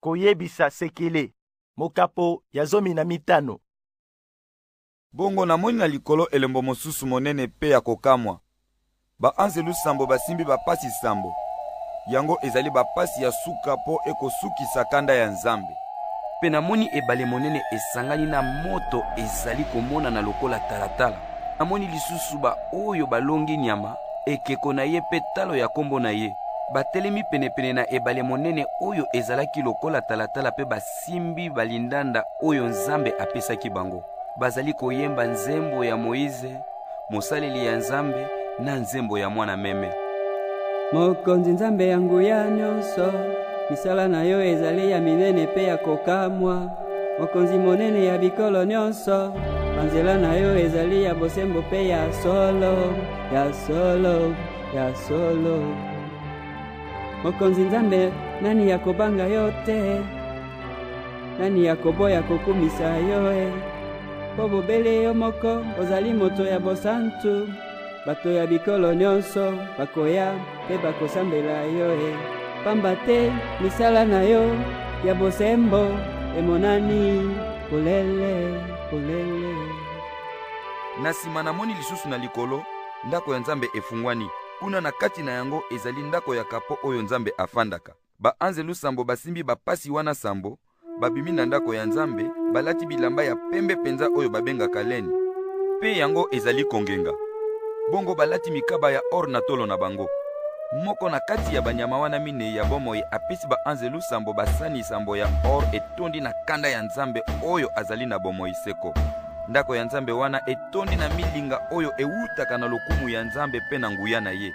Koyebisa sekele. Mokapo ya zomi na mitano. Bongo namoni na likolo elembo mosusu monene mpe ya kokamwa. Baanzelu sambo basimbi bapasi sambo. Yango ezali bapasi ya suka mpo ekosukisa kanda ya Nzambe. Mpe namoni ebale monene esangani na moto ezali komonana lokola talatala. Namoni lisusu baoyo balongi nyama ekeko na ye mpe talo ya nkombo na ye batelemi penepene na ebale monene oyo ezalaki lokola talatala mpe basimbi balindanda oyo nzambe apesaki bango bazali koyemba nzembo ya moize mosaleli ya nzambe na nzembo ya mwana meme mokonzi nzambe ya nguya nyonso misala na yo ezali ya minene mpe ya kokamwa Mokonzi monene ya bikolo nyonso, banzela na yo ezali ya bosembo mpe ya solo, ya solo, ya solo. Mokonzi Nzambe, nani ya kobanga yo te? Nani ya koboya kokumisa yo e? Mpo bobele yo moko ozali moto ya bosantu. Bato ya bikolo nyonso bakoya mpe bakosambela yo e, pamba te misala na yo ya bosembo emonani polele polele. Na nsima namoni lisusu na likolo ndako ya Nzambe efungwani. Kuna na kati na yango ezali ndako ya kapo oyo Nzambe afandaka. Baanzelu sambo basimbi bapasi wana sambo, babimi na ndako ya Nzambe, balati bilamba ya pembe mpenza oyo babengaka leni, mpe yango ezali kongenga. Bongo balati mikaba ya or na tolo na bango. Moko na kati ya banyama wana minei ya bomoi apesi baanzelu sambo basani sambo ya or etondi na kanda ya Nzambe oyo azali na bomoi seko. Ndako ya Nzambe wana etondi na milinga oyo ewutaka na lokumu ya Nzambe mpe na nguya na ye.